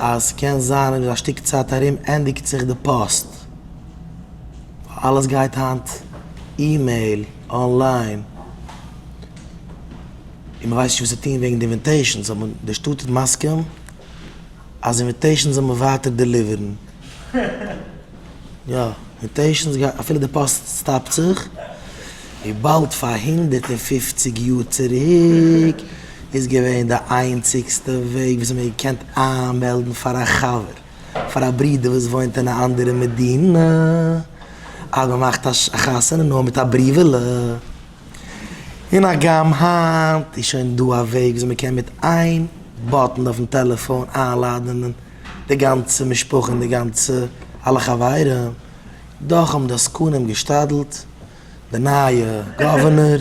אז קען זיין איבער א שטיק צייט ארום ענדיגט זיך די פאסט, ווייל אלעס גייט היינט אימעיל, אנליין, און מ'ווייסט נישט וואס צו טון וועגן די אינוויטעישאנס, אבער די שטאט איז מסכים אז אינוויטעישאנס זאל מען ווייטער דעליווערן. יא, און טעשנס גייט אפילו די פאסט סטאפט זיך, ווי באלד פאר הונדערט און פֿופֿציק יאר צוריק איז געווען די איינציגסטע וועג וואס מען האט געקענט איינמעלדן פאר א חבר, פאר א ברודער וואס וואוינט אין א אנדערע מדינה אז מען מאכט א חתונה נאר מיט א בריוועלע, און הגם היינט איז שוין דא א וועג וואס מען קען מיט איין באטן אויפן טעלעפאן איינלאדענען. די גאנצע משפחה און די גאנצע אלע חברים, דאך האבן די עסקנים געשתדלט, די נייע גאווערנער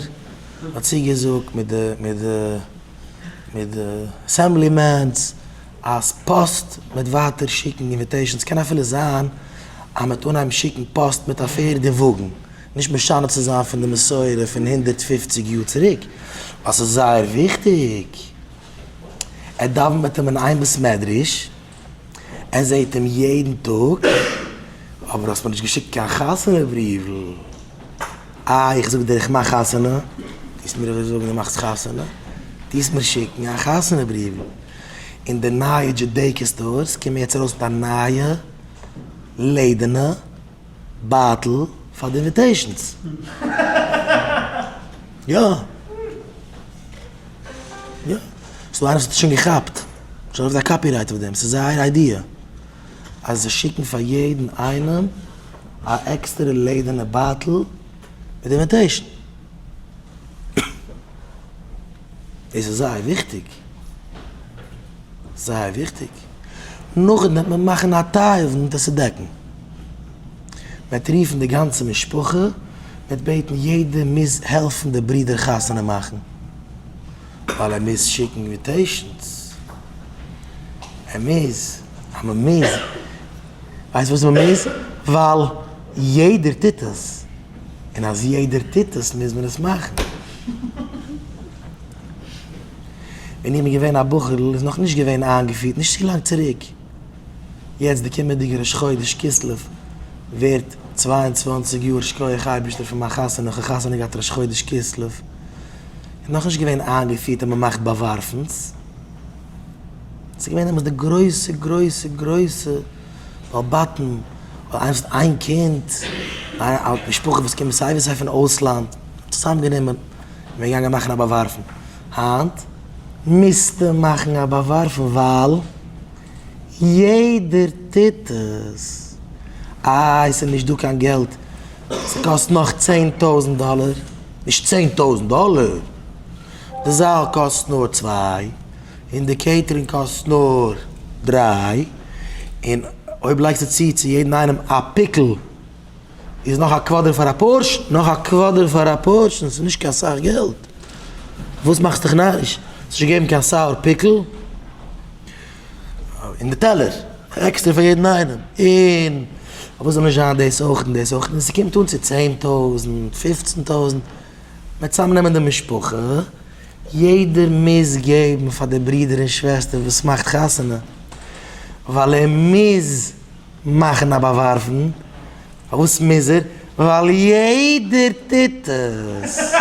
האט צוגעזאגט מיט די מיט די מיט די אסעמבלי מענס אז פאסט מעט ווייטער שיקן אינוויטעישאנס, ס'קען אפילו זיין אז מ'עט אנהייבן שיקן פאסט מיט א פערד און וואגן, נישט משנה צו זיין פון די מסורה פון הונדערט פֿופֿציק יאר צוריק, ווייל ס'איז זייער וויכטיג. ער דאווענט מיט אים אין איין בית מדרש, ער זעהט אים יעדן טאג, אבער האסט מיר נישט געשיקט קיין חתונה בריוול, אה איך זאג דיר איך מאך חתונה, טוסט מיר אזוי זאגן דו מאכסט חתונה, טוסט מיר שיקן א חתונה בריוול, אין די נייע דזשודעיקא סטארס קומען יעצט ארויס מיט א נייע לעדערנע בייטל פאר די אינוויטעישאנס, יא. יא, ס'איז דא איינער וואס האט עס שוין געכאפט, שוין אויף די קאפירייט אויף דעם, ס'איז זייער איידיע אז זיי שיקן פאר יעדן איינעם א עקסטערע לעדערנע בייטל מיט די אינוויטעישן. דאס איז זייער וויכטיג, זייער וויכטיג. נאכדעם וועט מען מאכן א תיבון דאס צו דעקן, מען וועט רופן די גאנצע משפחה, מען וועט בעטן יעדער מוז העלפן די ברודער חתונה מאכן, ווייל ער מוז שיקן אינוויטעישאנס, ער מוז, אז מען מוז, ווייסט וואס מען מוז? ווייל יעדער טוט עס, און אז יעדער טוט עס מוז מען עס מאכן. ווען איך בין געווען א בחור'ל איז נאך נישט געווען איינגעפירט, נישט צו לאנג צוריק, יעצט די קומענדיגע ראש חודש כסלו ווערט צוויי און צוואַנציק יאר שכוח אייבערשטער פון מיין חתונה, איך האב חתונה געהאט ראש חודש כסלו, איז נאך נישט געווען איינגעפירט אז מען מאכט באווארפנס, ס'איז געווען דעמאלטס די גרויסע גרויסע גרויסע בעל בתים, הייבסט איין קינד, משפחה וואס קומט סיי ווי סיי פון אויסלאנד, צוזאמגענומען, מען איז געגאנגען מאכן א באווארפן. היינט מוזטע מאכן א באווארפן ווייל יעדער טוט עס, איי ס'איז נישט דא קיין געלט, ס'קאסט נאך צען טויזנט דאלער, נישט צען טויזנט דאלער, די זאל קאסט נאר צוויי און די קעיטערינג קאסט נאר דריי, און אויב לייגסטו צו צו יעדן איינעם א פיקל. איז נאך א קוואדער פאר א פארשן? נאך א קוואדער פאר א פארשן? ס'איז נישט קיין סאך געלט. וואס מאכסט דיך נאריש? ס'איז נישט געגעבן קיין סאוער פיקל אין די טעלער. עקסטער פאר יעדן איינעם. און פארוואס זאל נישט זיין דאס אויך און דאס אויך? און ס'קומט אן צו צען טויזנט, פופצן טויזנט. מ'וועט צוזאמנעמען די משפחה. יעדער מוז געבן פאר די ברודער און שוועסטער וואס מאכט חתונה. ווייל ער מוז. מאכן א באווארפן, פארוואס מוז ער? ווייל יעדער טוט עס!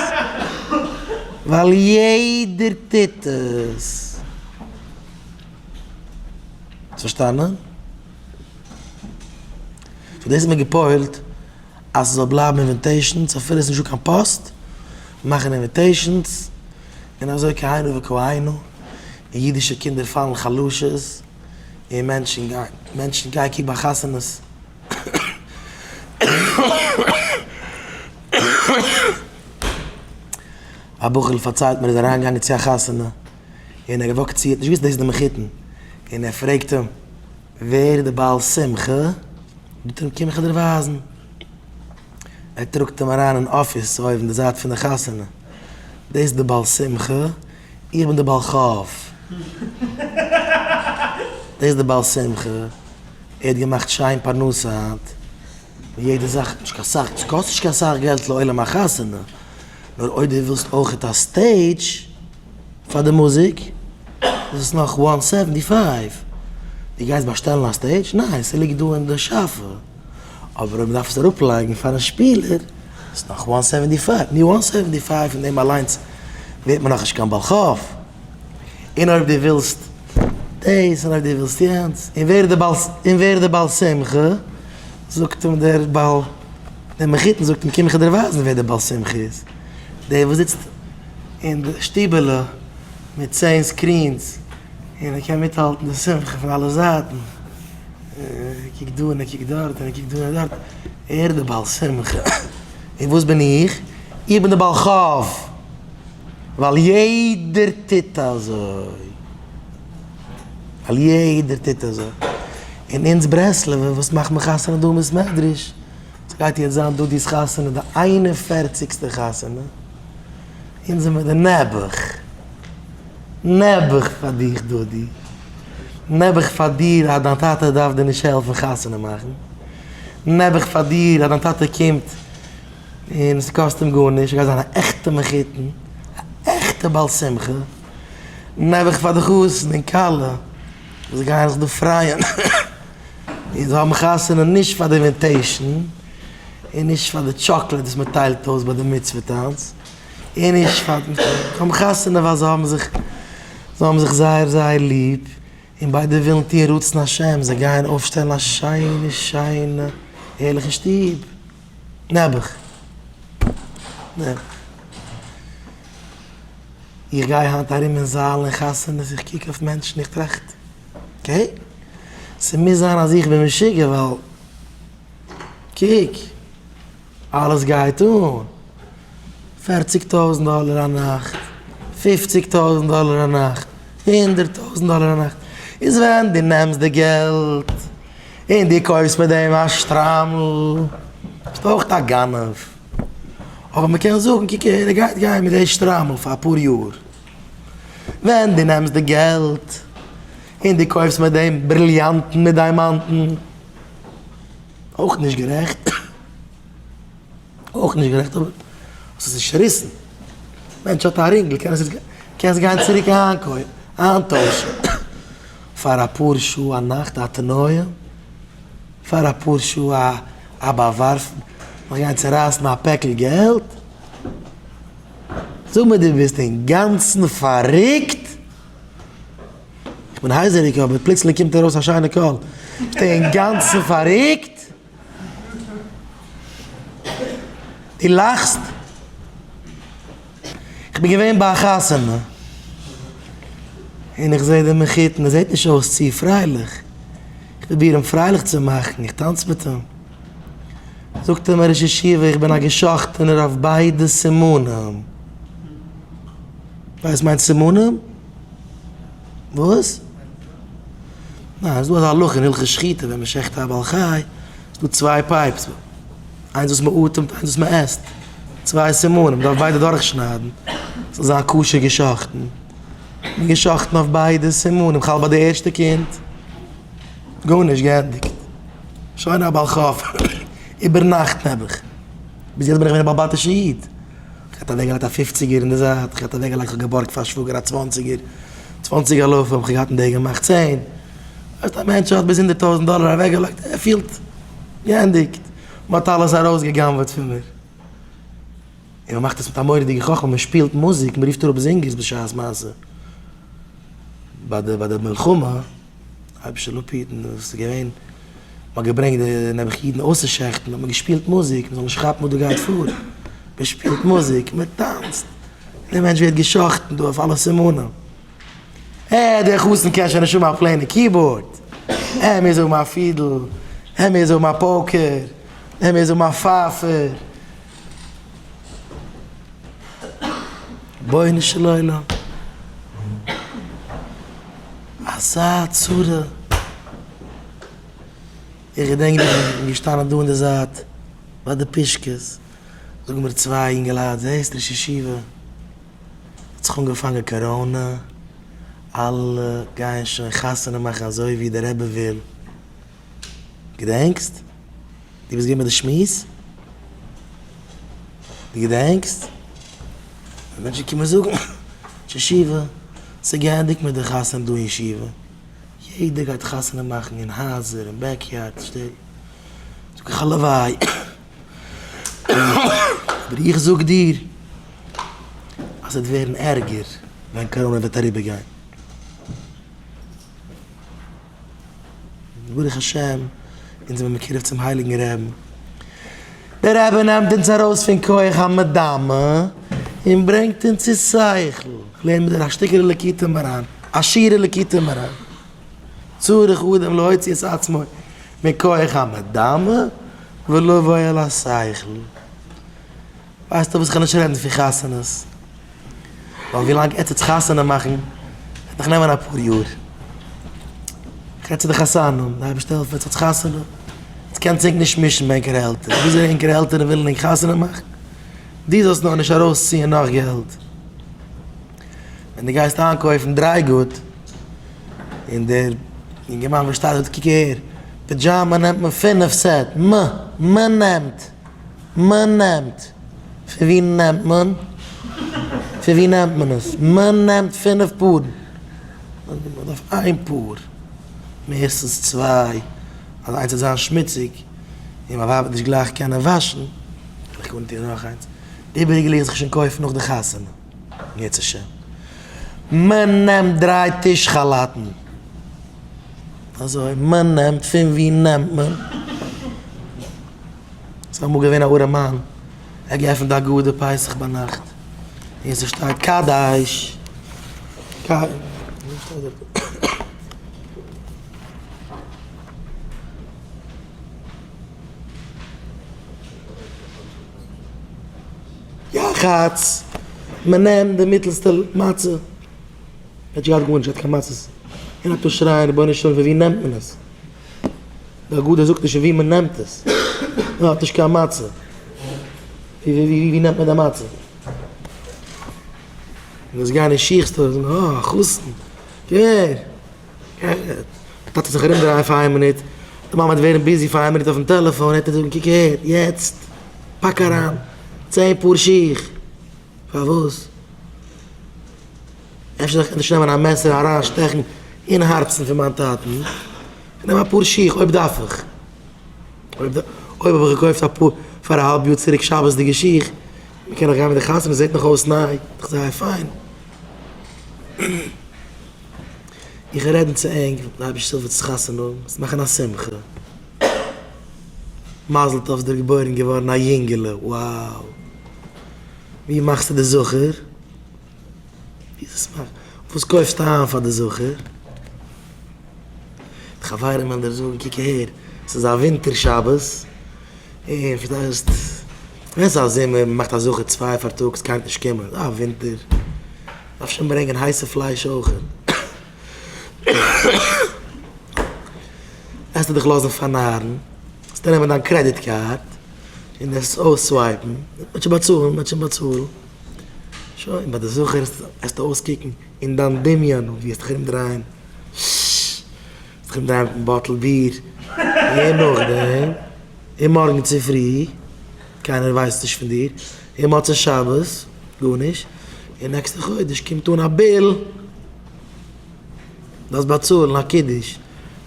ווייל יעדער טוט עס! האסט פארשטאנען? פאר דאס האט מען געפוילט אז ס'זאל בלייבן אינוויטעישאנס אפילו עס איז נישטא קיין פאסט, מאכן אינוויטעישאנס, און אזוי כהנה וכהנה, און אידישע קינדער פאלן חלשות. און מענטשן גייען, מענטשן גייען קוק ביי חתונות. א בחור'ל פארציילט מיר, ער איז אריינגעגאנגען צו א חתונה, און ער האט געוואקט צו, ער האט נישט געוואוסט דאס איז די מחותן, און ער פרעגט אים, ווער איז די בעל שמחה? זאגט ער אים, קום איך דיר ווייזן. ער טראגט אים אריין אין אפיס אויבן די זייט פון די חתונה, דאס איז די בעל שמחה, איך בין דער בעל חב ד, דאס איז דער בעל שמחה, ער האט געמאכט שיין פרנסה היינט, און יעדע זאך, נישט קיין סאך, עס קאסט נישט קיין סאך געלט לעולם א חתונה, נאר אויב דו ווילסט אויכעט א סטעידזש פאר די מוזיק, איז עס נאך וואן סעווענטי פייוו. דו גייסט באשטעלן א סטעידזש? ניין, ס'ליגט דא אין די שאפע. אבער אויב מ'דארף עס אראפלייגן פארן שפילער איז נאך וואן הונדערט סעווענטי פייוו, ניו וואן הונדערט סעווענטי פייוו פון דעם אליינס ווערט מען נאכנישט קיין בעל חוב, און אויב דו ווילסט דאס און אויב דו ווילסט יענץ, און ווער איז און ווער איז די בעל שמחה, זאגט אים דער בעל דער מחותן זאגט אים קום איך דיר ווייזן ווער די בעל שמחה איז, דער וואס זיצט אין די שטיבעלע מיט צען סקרינס און ער קען מיטהאלטן די שמחה פון אלע זייטן. ער קוקט דא און ער קוקט דארט און ער קוקט דא און דארט, ער די בעל שמחה, און וואס בין איך? איך בין די בעל חוב, ווייל יעדער טוט אזוי, ווייל יעדער טוט אזוי, און אונז ברסלב'ע וואס מאכט מען חתונה דא אין בית מדרש, ס'גייט יעצט זיין דודי'ס חתונה די איין און פערציגסטע חתונה, אונז זעמער די נעבעך. נעבעך פאר דיך דודי. נעבעך פאר דיר אז דיין טאטע דארף דיר נישט העלפן חתונה מאכן. נעבעך פאר דיר אז דיין טאטע קומט און עס קאסט אים גארנישט, ער גייט זיין א עכטע מחותן, א עכטע בעל שמחה. נעבעך פאר די חתן און כלה וואס גייען זיך דא פרייען און זיי האבן חתונה נישט פאר די אינוויטעישן און נישט פאר די טשאקלעד וואס מען טיילט אויס ביי די מצוה טאנץ. און נישט פאר דעם טאג פונעם חתונה ווייל זיי האבן זיך זיי האבן זיך זייער זייער ליב און ביידע ווילן טון רצון השם זיי גייען אויפשטעלן א שיינע שיינע הערליכע שטוב נעבעך נעבעך איך גיי היינט ארום אין זאלן און חתונות איך קוק אויף מענטשן איך טראכט אקעי ס'מוז זיין אז איך בין משוגע ווייל קוק, אלעס גייט אן, פערציג טויזנט דאלער א נאכט, פופציג טויזנט דאלער א נאכט, הונדערט טויזנט דאלער א נאכט, איז ווען דו נעמסט די געלט און דו קויפסט מיט דעם א שטריימל, ביסטו אויך א גנב, אבער מען קען זאגן, קוק אהער, ער גייט גיין מיט די שטריימל פאר אפאר יאר, ווען דו נעמסט די געלט און דו קויפסט מיט דעם בריליאנטן מיט דיימאנטן. אויך נישט גערעכט, אויך נישט גערעכט אבער האסט עס נישט צוריסן, מענטש האט א רינגל קען עס קען עס גיין צוריק איינקויפן, איינטוישן, פאר אפאר שעה א נאכט א תנועה, פאר אפאר שעה א באווארפן, נאך גיין צורייסן א פעקל געלט, זאג מיר דו ביסט אינגאנצן פארריקט? איך בין הייזעריג אבער פלוצלינג קומט ארויס א שיינע קול. ביסט אינגאנצן פאררוקט? דו לאכסט? איך בין געווען ביי א חתונה און איך זעה די מחותן, ער זעט נישט אויס צו פרייליך. איך פרוביר אים פרייליך צו מאכן, איך טאנץ מיט אים. זאגט אים ראש ישיבה, איך בין א געשאכטענער אויף ביידע סימנים. ווייסט מיין סימנים? וואס? ניין, ס'איז דא אזא הלכה אין הלכות שחיטה ווען מ'שחט א בעל חי, איז דא צוויי פייפס, איינס וואס מ'אטעמט איינס וואס מ'עסט, צוויי סימנים, מ'דארף ביידע דורכשניידן ס'זאל זיין כשר געשחטן, און געשאכטן אויף ביידע סימנים, כ'האלט ביי די ערשטע קינד, גארנישט געענדיגט, שוין א בעל חי, איבערנאכט נעבעך, ביז יעצט בין איך געווען א בעל בית'ישע איד. כ'האט אוועקגעלייגט א פופציגער אין די זייט, כ'האט אוועקגעלייגט, כ'האב געבארגט פאר שוואגער א צוואנציגער, צוואנציג אלפים האב איך געהאט אין די געמאכט צען, ווייסט א מענטש האט ביז הונדערט טויזענט דאלער אוועקגעלייגט, ער פילט געענדיגט, מ'האט אלעס ארויסגע'גנב'עט פון מיר, און מ'מאכט עס מיט א מורא'דיגע חכמה, מ'שפילט מוזיק, מ'רופט אראפ זינגערס בשעת מעשה, ביי די ביי די מלחמה. היבשע לפידן איז עס געווען, מען האט געברענגט די נעבעך אידן אויסצושעכטן, האט מען געשפילט מוזיק, מען זאל נישט כאפן וואס דא גייט פאר, מען שפילט מוזיק, מען טאנצט, דער מענטש ווערט געשאכטן דא אויף אלע סימנים, אה, דער חתן קען שוין נישט האבן א פלעינע קיבאורד, ער מוז האבן א פידל, ער מוז האבן א פאוקער, ער מוז האבן א פייפער. רבונו של עולם, אזא צרה, איך געדענק נאך איך בין געשטאנען דא אין די זייט ביי די פישקעס, זאגן מיר צוויי אינגעלייט זעסט ראש ישיבה האט זיך אנגעפאנגען קאראנע, אלע גייען שוין חתונה מאכן אזוי ווי דער רבי וויל, געדענקסט? דו ביסט געווען ביי די שמועס? דו געדענקסט? ווען מענטשן קומען זאגן ש'שיבה, ס'איז געענדיגט מיט די חתונה דא אין שיבה, יעדער גייט חתונה מאכן אין הייזער, אין בעקיארד, שטעט, זאג איך הלוואי, אבער איך זאג דיר אז ס'וועט ווערן ערגער ווען קאראנע וועט אריבערגיין. ברוך השם אונז זעמיר מקורב צום הייליגן רעבן, דער רבי נעמט אונז ארויס פון כח המדמה און ברענגט אונז צו שכל, לערן מיר דורך א שטיקעלע ליקוטי מרן, א שיעור אין ליקוטי מרן, צריך אדם להוציא את עצמו מכח המדמה ולבוא אל השכל. ווייסטו וואס כ'וועל נישט רעדן פון חתונות, ווייל ווי לאנג עטץ חתונה מאכן וועט נאך נעמען אפאר יאר, כ'רעד צו די חתנים, די אייבערשטער העלפט עטץ האט חתונה, עטץ קענטס ענק נישט מישן מיט ענקערע עלטערן, וויאזוי ענקערע עלטערן ווילן ענק חתונה מאכן, דו זאלסט נאר נישט ארויסציען נאך געלט, ווען דו גייסט איינקויפן דריי גוט, און דער אינגערמאן וואס שטייט דארט קוק אהער, פידזשאמא נעמט מען פינף סעט, מ מ נעמט. מ'נעמט? פון ווי נעמט מען? פון ווי נעמט מען עס? מ'נעמט פינף פארן? מ'דארף איין פאר, מערסטנס צוויי, אז איינס וועט זיין שמוציג און מיין ווייב וועט נישט גלייך קענען וואשן, וועל איך אנטון נאך איינס, די איבעריגע לאזט זיך שוין קויפן נאך די חתונה. יעצט השם. מען נעמט דריי טיש כאלאטן. אזוי מען נעמט פון ווי נעמט מען? ס'איז אמאל געווען א ארעמאן ער האט געעפנט א גאדער פסח ביינאכט און ס'שטייט קאדאיש קיי. יחץ, מען נעמט די מיטעלסטע מצה, ער האט נישט געהאט גארנישט, ער האט קיין מצות, און ער טאר שרייען רבונו של עולם פון ווי נעמט מען עס, די הגדה זאגט נישט פון ווי מען נעמט עס, מען האט נישט קיין מצה, ווי נעמט מען די מצה? און עס גייען אין שיך סטארס און זאגן אה א חתן, געווער! די טאטע זיך ארומדרייען פאר איין מינוט, די מאמע וועט ווערן ביזי פאר איין מינוט אויפן טעלעפאן, ער וועט איר זאגן קוק אהער, יעצט פאק אריין צען פאר שיך, פארוואס? אפשר זאל איך ענדערש נעמען א מעסער און אריין שטעכן אין הארצן פון מיין טאטן? איך נעם אפאר שיך אויב דארף איך, אויב האב איך געקויפט אפאר פאר א האלב יאר צוריק שבת'דיגע שיך, מ'קען נאך גיין מיט די חתונה, מ'זעט נאך אויס ניי, דאך זייער פיין. איך רעדן צו ענק ווען לייביש שולוויץ חתונה, זיי מאכן א שמחה, מזל טוב ס'דיר געבוירן געווארן א יונגעלע, wow! ווי מאכסטו די זכר? וואס קויפסטו איין פאר די זכר? די חברים וועלן דיר זאגן, קוק אהער, ס'איז א ווינטער שבת, און פארשטייסט, ווען ס'איז א זומער, מ'מאכט א זכר צוויי פארטאגס, קאנט נישט קומען, ווייל ווינטער. דארף שוין ברענגען הייסע פלייש אויכעט. וועסטו דיך לאזן פארנארן? וועסטו נעמען דיין קרעדיט קארד און עס אויססווייפן? מען וועט שוין באצאלן, מען וועט שוין באצאלן. שוין, ביי די זכר וועסטו אויסקוקן אין דיין דמיון ווי וועסט דיך ארומדרייען, וועסט דיך ארומדרייען מיטן באטל ביר, און נאכדעם, און מארגן צופרי, קיינער ווייסט נישט פון דיר, און מוצאי שבת גארנישט, און נעקסטע חודש קומט אן א ביל, דארפסט באצאלן א קידוש,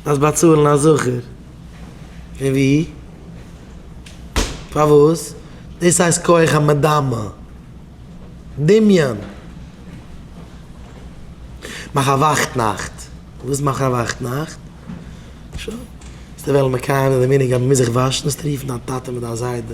דארפסט באצאלן א זכר, פון וואו? פארוואס? דאס הייסט כח המדמה, דמיון. מאך א וואכט נאכט, וואס מאך א וואכט נאכט? שוין, וועסטו וועלן מקיים זיין די מנהג אז מ'מוז זיך וואשן, וועסטו רופן דיין טאטע מיט דיין זיידע,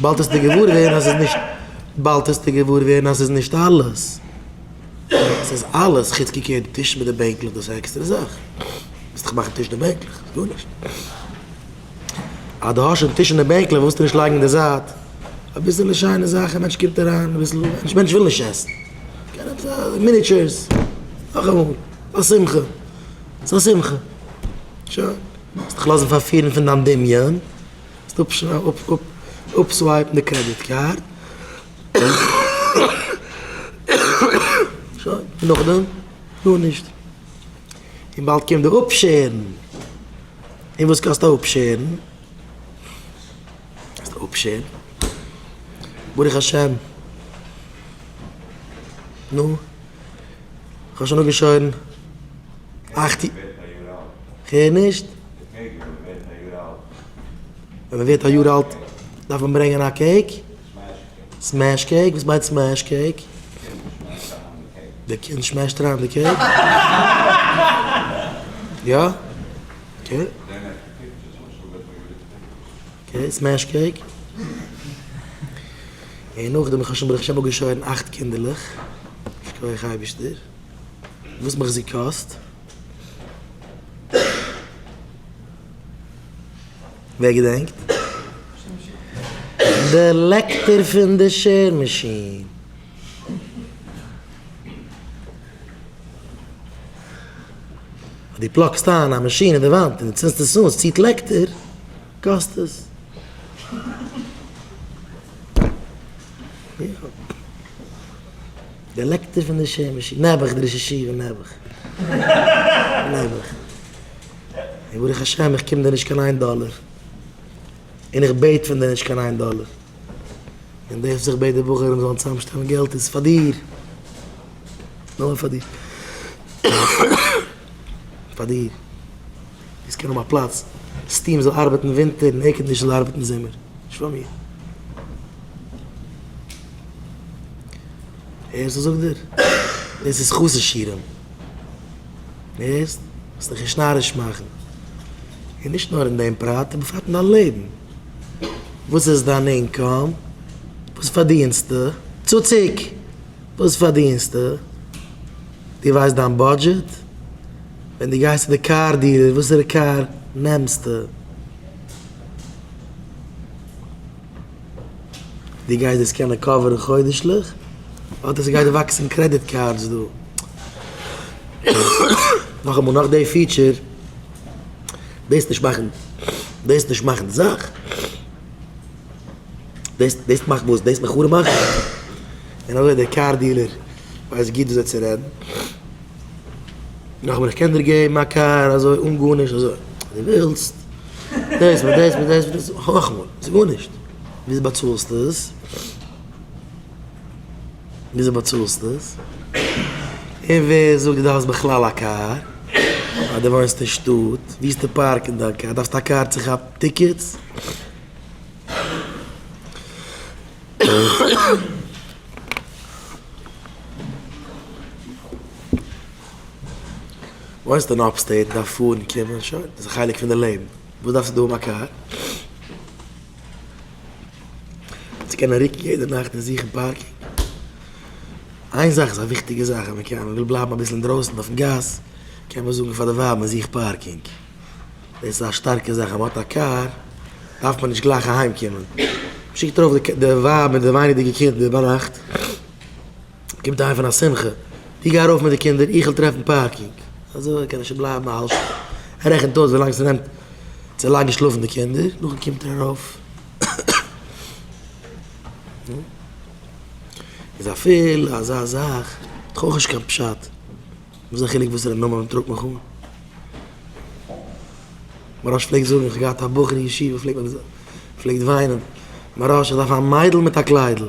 באלד העסטו געוואר ווערן אז ס'איז נישט באלד העסטו געוואר ווערן אז ס'איז נישט אלעס. ס'איז אלעס חוץ קוקן אויף די טישן מיט די בענקלעך דאס איז א עקסטערע זאך. וועסט דאך מאכן טיש און בענקלעך ס'איז גארנישט. אז דו האסט שוין טיש און בענקלעך ווילסטו נישט לייגן אין די זייט אביסעלע שיינע זאכן מענטש קומט אריין אביסל נישט מענטש וויל נישט עסן קען עפעס א מיניטשערס נאכאמאל א שמחה ס'איז א שמחה שוין. וועסט דיך לאזן פארפירן פון דיין דמיון. אפסווייפן די קרעדיט קארד, שוין, און נאכדעם? גארנישט, און באלד קומט די אפשערן, און וואס קאסט א אפשערן? קאסט א אפשערן, ברוך השם, נו? כ'האב שוין אפגעשוירן אכט יאר. כ'הער נישט. ווען מען ווערט א יאר אלט דארף מען ברענגען א קעיק? סמעש קעיק? וואס מיינט סמעש קעיק? די קינד שמעשט אריין די קעיק? יא? אקעי. און סמעש קעיק. און נאכדעם איך האב שוין ברוך השם אפגעשוירן אכט קינדערלעך, יישר כח אייבערשטער, וואס מחזיק קאסט. ווער געדענקט? די לעקטער פון די שער מאשין. אז דו פלאגסט איין א מאשין אין די וואנט און דו צינדסט עס אן, עס ציט לעקטער, קאסט עס. די לעקטער פון די שער מאשין. נעבעך דער ראש ישיבה, נעבעך. נעבעך. און ברוך השם איך קום דיר נישט קיין איין דאלער. און איך בעט פון דיר נישט קיין איין דאלער. און דערפט זיך בעט די בחורים זאלן צוזאמשטעלן געלט איז פאר דיר, נאר פאר דיר, פאר דיר, דאס קען האבן א פלאץ, סטיעם זאל ארבעטן ווינטער און עירקאנדישן זאל ארבעטן זומער, נישט פאר מיר. הערסט וואס זאגט דיר? דאס איז חוסר שירעם, הערסט? זאלסט דיך נישט נאריש מאכן, און נישט נאר אין דעם פרט, בפרט אין דיין לעבן. וואס איז דיין אינקאם? וואס פארדינסטו? צוציק! וואס פארדינסטו? דו ווייסט דיין בודזשעט? ווען דו גייסט צו די קאר דיעלער וואסערע קאר נעמסטו? דו גייסט דאס קענען קאווערן חודש'ליך? אדער ס'גייט וואקסן קרעדיט קארדס דא? נאכאמאל נאך די פיטשער. דאס נישט מאכן דאס נישט מאכן די זאך דאס דאס מאכט וואס דאס מיך חרוב מאכן און אזוי דער קאר דילער ווייסט גוט וויאזוי צו רעדן נאכמער איך קען דיר געבן א קאר אזוי אן גארנישט אזוי די ווילסט דאס מיט דאס מיט דאס מיט דאס האך מאל ס'איז גארנישט וויאזוי באצאלסטו עס. וויאזוי באצאלסטו דאס? און ווער זאגט דו דארפסט בכלל א קאר? ווייל דו וואוינסט אין שטאט? וואוסטו פארקן דיין קאר? דארפסטו א קאר צו כאפן טיקעטס? וואוינסט אין אפסטעיט? דארף פארן קומען? שוין, דאס איז א חלק פון די לעבן. וואס דארפסטו דא האבן א קאר? צו קענען רוקן יעדע נאכט און זוכן פארקינג. איין זאך איז א וויכטיגע זאך אז מ'קען, מ'וויל בלייבן אביסל אינדרויסן אויפן גאס, קען מען זאגן פאר די ווייב מ'זוכט פארקינג. דאס איז א שטארקע זאך אז מ'האט א קאר דארף מען נישט גלייך אהיימקומען. מ'שיקט ארויף די ווייב מיט די ווייניגדיגע קינדער ביינאכט. קומט אהיים פון א שמחה, דו גיי ארויף מיט די קינדער, איך וויל טרעפן פארקינג, אזוי קען ער שוין בלייבן א האלב שעה, ער רעכנט אויס ווילאנג ס'נעמט צו לייגן שלאפן די קינדער, נאכדעם קומט ער ארויף, איז אפילו אזא זאך האט דאך אויך נישט קיין פשט, וואס איז די חילוק וואסערע נאמען מ'טראגט מיך אן? מוהרא ש פלעגט זאגן, איך האב געהאט א בחור אין ישיבה פלעגט וויינען, מוהרא ש איך דארף א מיידל מיט א קליידל.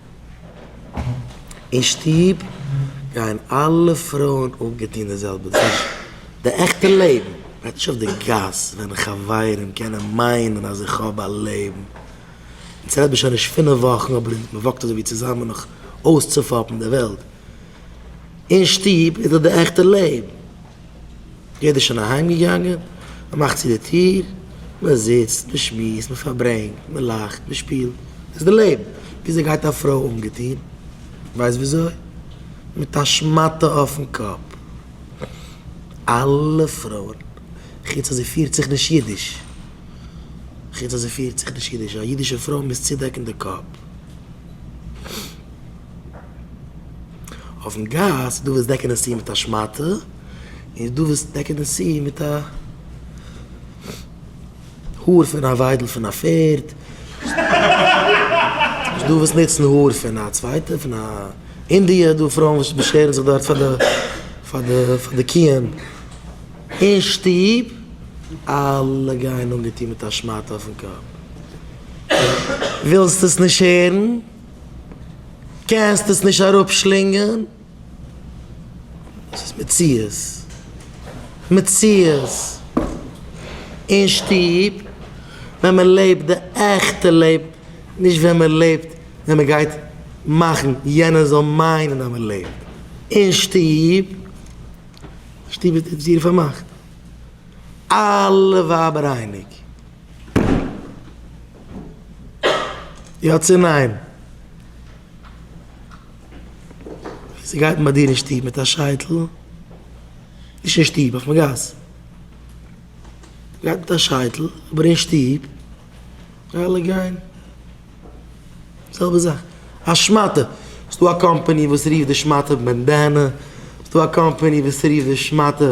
אין שטוב גייען אלע פרויען אנגעטון די זעלבע זאך. די עכטע לעבן וועט נישט אויף די גאס ווען חברים קענען מיינען אז איך האב א לעבן. אונז רעדט מען שוין נישט פינף וואכן אבער מ'וואקט אזויווי צוזאמען נאך אויסצופאפן די וועלט. אין שטוב איז דאך די עכטע לעבן. יעדער איז שוין אהיימגעגאנגען, מען מאכט צו די טיר, מען זיצט, מען שמועסט, מען פארברענגט, מען לאכט, מען שפילט. דאס איז די לעבן. וויאזוי גייט א פרוי אנגעטון? ווייסט וויאזוי? מיט א שמאטע אויפן קאפ. אלע פרויען, חוץ אז זי פירט זיך נישט אידיש. חוץ אז זי פירט זיך נישט אידיש. א אידישע פרוי מוז צודעקן די קאפ. אויפן גאס איז דא וואס דעקן עס צו מיט א שמאטע, און איז דא וואס דעקן עס צו מיט א האר פון א וויידל פון א פערד, איז דא וואס נוצן האר פון א צווייטע פון א אינדיע, איז דא פרויען וואס באשערן זיך דארט פאר די פאר די פאר די קיען אין שטוב, אלע גייען אנגעטון מיט א שמאטע אויפן קאפ, ווילסט עס נישט הערן? קענסט עס נישט אראפשלינגען? ס'איז מציאות. מציאות. אין שטוב ווען מען לעבט די עכטע לעבן, נישט ווען מען לעבט ווען מען גייט מאכן יענער זאל מיינען אז מען לעבט. אין שטוב. שטוב איז דיר פארמאכט. אלע ווייבער אייניג. יא צו ניין? וויאזוי גייט מען ביי דיר אין שטוב מיט א שייטל? נישט אין שטוב, אויפן גאס. גייט מיט א שייטל, אבער אין שטוב גייען אלע גיין זעלבע זאך. א שמאטע, ס'דא א קאמפאני וואס רופט די שמאטע בענדענע, ס'דא א קאמפאני וואס רופט די שמאטע.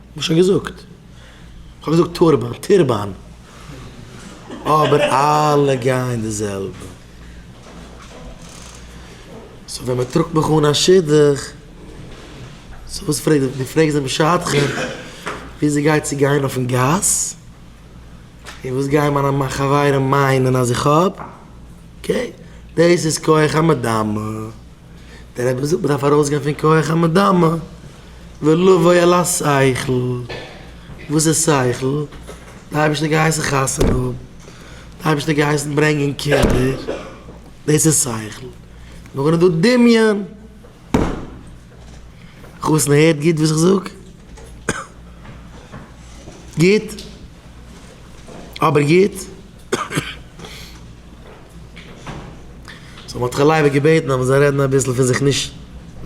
כ'האב שוין געזאגט. כ'האב געזאגט טורבאן, טירבאן. אבער אלע גייען די זעלבע. סאו ווען מ'טראגט מיך אן א שידוך. סאו וואס פרעגט זי? דו פרעגסט דעם שדכן ווי זי גייט צו גיין אויפן גאס? און וואס גייען מיינע מיין חברים מיינען אז איך האב? אקעי. דאס איז כח המדמה. דער רבי זאגט מ'דארף ארויסגיין פון כח המדמה ולבוא אל השכל, וואס איז שכל? די אייבערשטער האט געהייסן חתונה האבן, די אייבערשטער האט געהייסן ברענגען קינדער, דאס איז שכל, נאכדעם איז דא דמיון, חתונה הערט גוט וואס איך זאג? גוט? אבער גוט? סאו מ'האט ר' לייב'ל געבעטן אז מ'זאל רעדן אביסל פון זיך נישט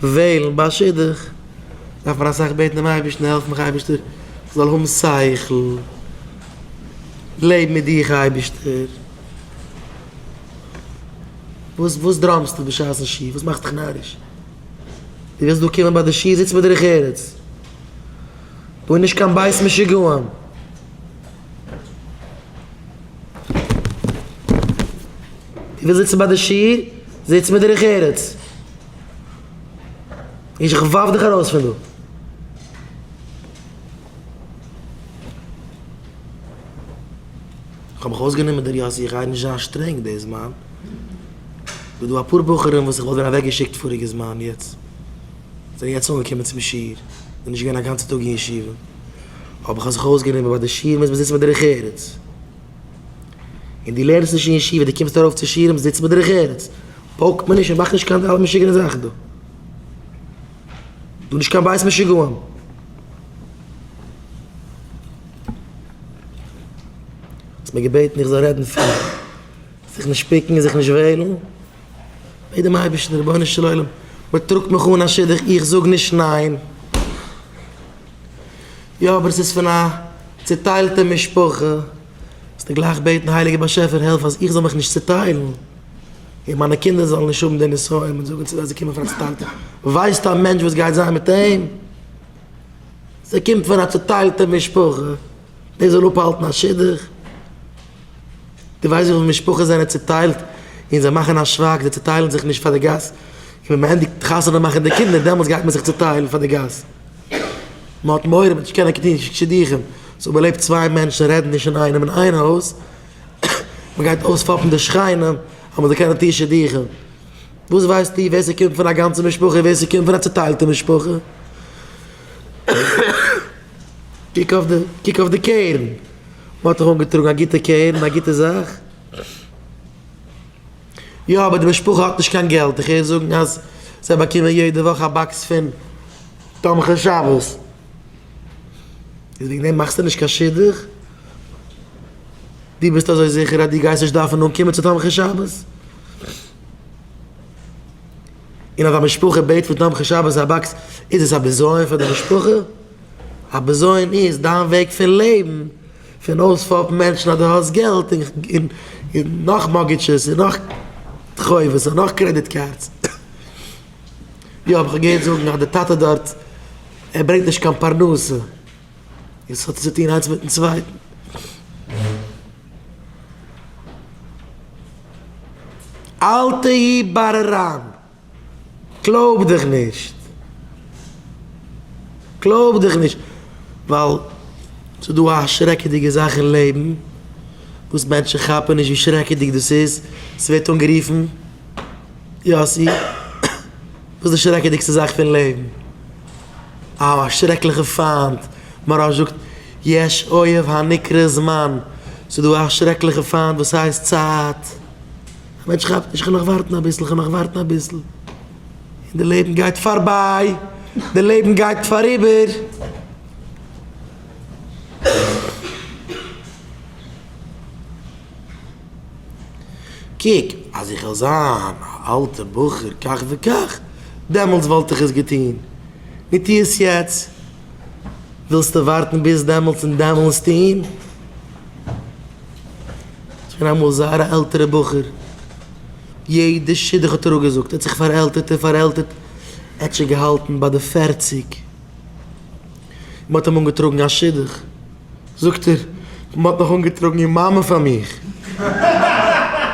וועלן ביי א שידוך, דארף מען אסאך בעטן דעם אייבערשטן העלף מיך אייבערשטער איך זאל האבן שכל, לעב מיט דיך אייבערשטער, וואס וואס דראמסטו בשעת'ן שו ת, וואס מאכסט דיך נאריש, דו ווילסט דא קומען ביי די שו ת זיץ בדרך ארץ, דא איז נישט קיין בית משוגעים. וויל זיצן ביי די שיעור, זיץ מיט דרך ארץ. נישט איך ווארף דיך ארויס פון דא. כ'האב מיך אויסגענומען דער יאסי איך גיי נישט זיין שטרענג די זמן. ס'דא דא אפאר בחורים וואס איך וואלט ווען אוועקגעשיקט פאריגע זמן יעצט. זענען יעצט אנגעקומען צום שיעור. זענען נישט געווען א גאנצע טאג אין ישיבה. האב איך זיך אויסגענומען ביי די שיעורים וואס מ'זיצט מיט דרך ארץ. און דו לערנסט נישט אין ישיבה, דו קומסט ארויף צו שיעורים, זיץ מיט דרך ארץ. פאלג מיר נישט און מאך נישט קיין אלע משוגענע זאכן דא. דא נישט קיין בית משוגעים. האסט מיר געבעטן איך זאל רעדן פון זיך נישט פיקן און זיך נישט וועלן. בעט דעם אייבערשטן, רבונו של עולם, מ'טראגט מיך אן א שידוך, איך זאג נישט ניין. יא אבער עס איז פון א צוטיילטע משפחה, זאלסטו גלייך בעטן הייליגער באשעפער העלף אז איך זאל מיך נישט צוטיילן און מיינע קינדער זאלן נישט האבן די נסיון און זאגן צו זיי זיי קומען פון א צוטיילטע, ווייסט א מענטש וואס גייט זיין מיט אים? זי קומט פון א צוטיילטע משפחה, דאס זאל אפהאלטן א שידוך? דו ווייסט וויפיל משפחות זענען צוטיילט און זיי מאכן א שווייג, זיי צוטיילן זיך נישט פאר די גאס, און ווען מען ענדיגט חתונה מאכן די קינדער דעמאלטס גייט מען זיך צוטיילן פאר די גאס. מען האט מורא מען וועט נישט קענען קענען נישט שידוכים, סאו מען לעבט צוויי מענטשן רעדן נישט אינאיינעם אין איין הויז, מען גייט אויספאפן די שכנים אז מען זאל קענען טון שידוכים, וואס ווייסטו ווער ס'קומט פון א גאנצע משפחה און ווער ס'קומט פון א צוטיילטע משפחה? קוק אויף די קוק אויף די קערן, מען האט דיך אנגעטראגן א גוטע קערן א גוטע זאך. יא אבער די משפחה האט נישט קיין געלט, איך הער זאגן אז זיי באקומען יעדע וואך א באקס פון תומכי שבת, איז וועגן דעם מאכסטו נישט קיין שידוך? דו ביסט אזוי זיכער אז דו גייסט נישט דארפן אנקומען צו תומכי שבת? און אז א משפחה בעט פון תומכי שבת א באקס איז עס א בזיון פאר די משפחה? א בזיון איז דיין וועג פון לעבן! פון אויספאפן מענטשן אז דו האסט געלט און נאך מארטגעדזשעס און נאך חובות און נאך קרעדיט קארדס. יא אבער כ'האב געהערט זאגן אז די טאטע דארט ער ברענגט נישט קיין פרנסה און ס'האט צו טון איינס מיטן צווייטן. אל תהי בררן! קלויב דיך נישט, קלויב דיך נישט, ווייל ס'איז דא א שרעקעדיגע זאך אין לעבן וואס מענטשן כאפן נישט ווי שרעקעדיג דאס איז, ס'ווערט אנגערופן יאסי, וואס איז די שרעקעדיגסטע זאך פון לעבן? א שרעקליכע פיינט, מוהראש זאגט יש אויב הנקרא זמן, ס'איז דא א שרעקליכע פיינט וואס הייסט צייט. כ'מעטש כאפט נישט, כ'על נאך ווארטן אביסל, כ'על נאך ווארטן אביסל, און די לעבן גייט פארביי, די לעבן גייט פאריבער. קוק, אז איך וועל זיין א אלטע בחור כך וכך, דעמאלטס וואלט איך עס געטון, נו טו עס יעצט, ווילסטו ווארטן ביז דעמאלטס און דעמאלטס טון? ס'איז געווען אמאל זייער א עלטערע בחור, יעדע שידוך האט ער אפגעזאגט, ער האט זיך פארעלטערט און פארעלטערט, ער האט שוין געהאלטן ביי די פערציג, מען האט אים אנגעטראגן א שידוך, זאגט ער, מען האט מיך אנגעטראגן איר מאמע פאר מיך,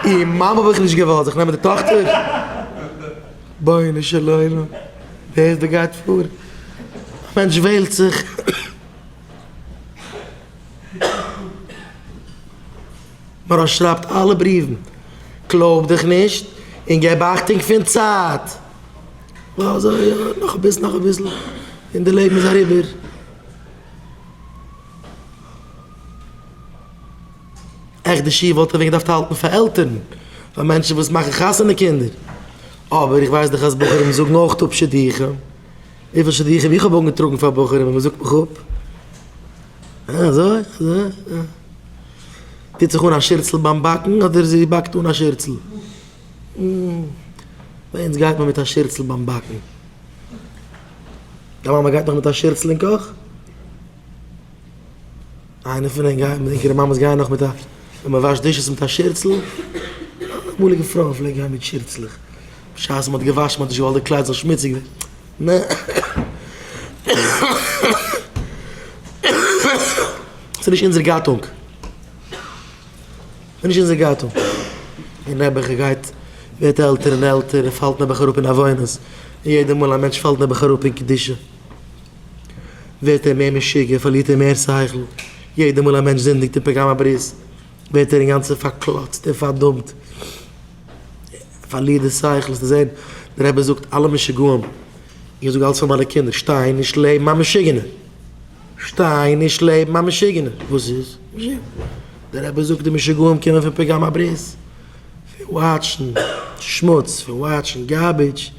איר מאמע האב איך נישט געוואלט, זיך נעמען די טאכטער? בונו של עולם, ווער איז דא גייט פאר? א מענטש וועלט זיך. מרן שרייבט אלע בריוון, קלויב דיך נישט און געב אכטונג פון צייט. עכט די שיעור וואלט ער ווען געדארפט האלטן פאר עלטערן, פאר מענטשן וואס מאכן חתונה קינדער, אבער איך ווייס דאך אז בחורים זאגן אויך אפ שידוכים. וויפיל שידוכים איך האב אנגעטראגן פאר בחורים און מען זאגט מיך אפ. אה אזוי? אזוי? אה. טוט זיך אן א שירצל ביים באקן אדער זי באקט אן א שירצל? אה. ביי אונז גייט מען מיט א שירצל ביים באקן. דיין מאמע גייט נאך מיט א שירצל אין קאך? איינער פון ענק גייט, ענקערע מאמעס גייען נאך מיט א, ווען מען וואשט דישעס מיט א שירצל? אמאליגע פרויען פלעגן גיין מיט שירצלעך. בשעת מען האט געוואשן מען האט נישט געוואלט די קלייד זאל שמוציג ווערן. ס'נישט אונזער גאטונג. ס'נישט אונזער גאטונג. דער נעבעך גייט ווערט עלטער און עלטער און פאלט נעבעך אראפ אין עוונות. און יעדע מאל א מענטש פאלט נעבעך אראפ אין קדושה ווערט ער מער משוגע, פארלירט ער מער שכל. יעדע מאל א מענטש זינדיגט אין פגם הברית. ווערט ער אינגאנצן פארקלאצט און פארדאמט, ער פארלירט די שכל, האסט געזען? דער רבי זאגט, אלע משוגעים, איך זאג אלץ פאר מיינע קינדער, שטיין נישט לעבן א משוגענער! שטיין נישט לעבן א משוגענער! וואס איז? דער רבי זאגט, די משוגעים קומען פון פגם הברית, פון וואטשן שמוץ, פון וואטשן גארבידזש,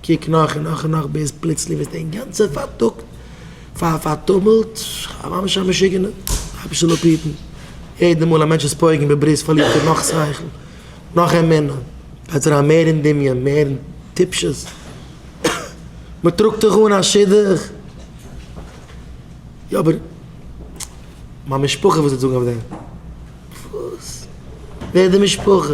קוק נאך און נאך און נאך ביז פלוצלינג ווערט דער גאנצער פארטאגט פארטומלט, ממש א משוגענער הייבשט אן אפהיטן. יעדע מאל א מענטש איז פויגן בברית פארלירט ער נאך שכל, נאך אמונה, פאלט אריין מער אין דמיון, מער אין טיפשות, מען טראגט זיך אן א שידוך, יא אבער מיין משפחה וואס וועט זאגן אויף דעם? וואס? ווער איז די משפחה?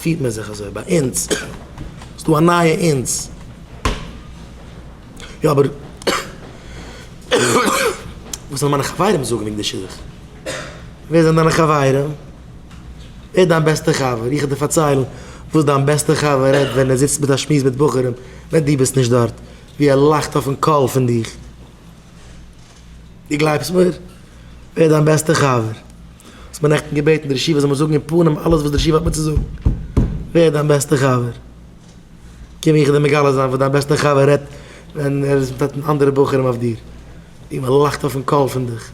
פירט מען זיך אזוי ביי אונז, ס'איז דא א נייע אונז. יא אבער וואס וועלן מיינע חברים זאגן וועגן די שידוך? ווער זענען דיינע חברים? ווער איז דיין בעסטע חבר? איך וועל דיר פארציילן וואס דיין בעסטע חבר רעדט ווען ער זיצט מיט א שמועס מיט בחורים ווען דו ביסט נישט דארט, ווי ער לאכט אויפן קול פון דיך. דו גלייבסט מיר? ווער דיין בעסטע חבר? האסט מיר נעכטן געבעטן דער ישיבה זאל מיר זאגן אין פנים אלעס וואס דער ישיבה האט מיר צו זאגן. ווער דיין בעסטע חבר? קום איך דיר מגלה זיין וואס דיין בעסטע חבר רעדט ווען ער איז מיט אנדערע בחורים אויף דיר. ווי מען לאכט אויפן קול פון דיך.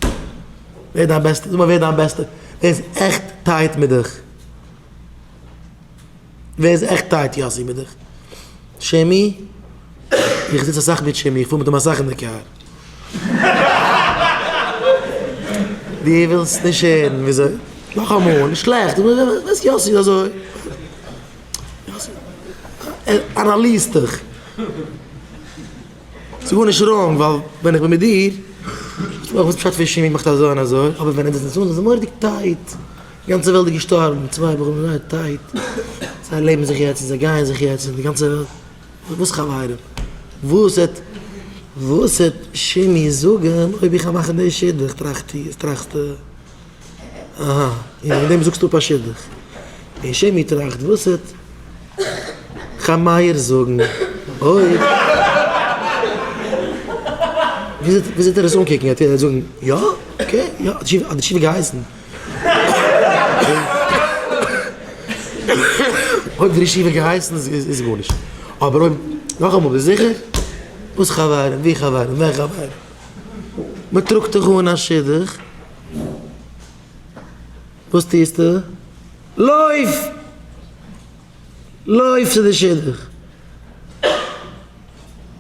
ווער דיין בעסטע, זאג מיר ווער דיין בעסטע, ווער איז עכט טייט מיט דיך. ווער איז עכט טייט? יאסי בין איך. שעמי? איך זיץ אסאך מיט שעמי, איך פאר מיט אים אסאך אין די קאר. דו ווילסט נישט הערן וויאזוי? נאכאמאל, נישט שלעכט, ווייסט יאסי איז אזוי. יאסי, ער אנאליזט דיך. ס'איז גארנישט ראנג ווייל ווען איך בין מיט דיר, איך ווייס פשט פון שעמי מאכט אזוי און אזוי, אבער ווען ער זיצט מיט אונז איז מורא'דיג טייט, גאנצע וועלט איז געשטארבן, די צוויי בחורים זענען זייער טייט, זיי לעבן זיך יעצט און זיי גייען זיך יעצט און די גאנצע וועלט, וואס חברים? וואס העט וואס העט שימי זאגן אויב איך גיי מאכן די שידוך טראכסטו טראכסטו אהה און וועגן דעם זאגסטו אפ א שידוך? און שימי טראכט וואס העט חיים מאיר זאגן אויב ווי אזוי ווי אזוי וועט ער עס אנקוקן? וועט ער זאגן יא? אקעי יא האט די שידוך געהייסן? אויב די ישיבה האט געהייסן איז גארנישט אבער אויב נאכאמאל ביסט זיכער? וואס חברים? ווי חברים? ווען חברים? מען טראגט דיך אן א שידוך וואס טוסטו? לויף! לויף צו די שידוך!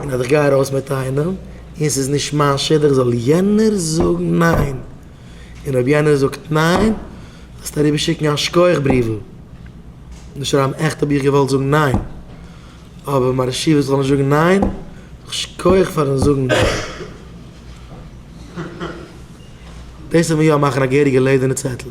און אז איך גיי ארויס מיט איינעם און ס'איז נישט מיין שידוך זאל יענער זאגן ניין, און אויב יענער זאגט ניין זאלסטו אריבער שיקן א שכוח בריוול און שרייבן עכט האב איך געוואלט זאגן ניין אבער מיין רעשיווע זאל נישט זאגן ניין, זאג שכוח פארן זאגן ניין. דאס וועט מיר יא מאכן א געהעריגע לעדערנע צעטל.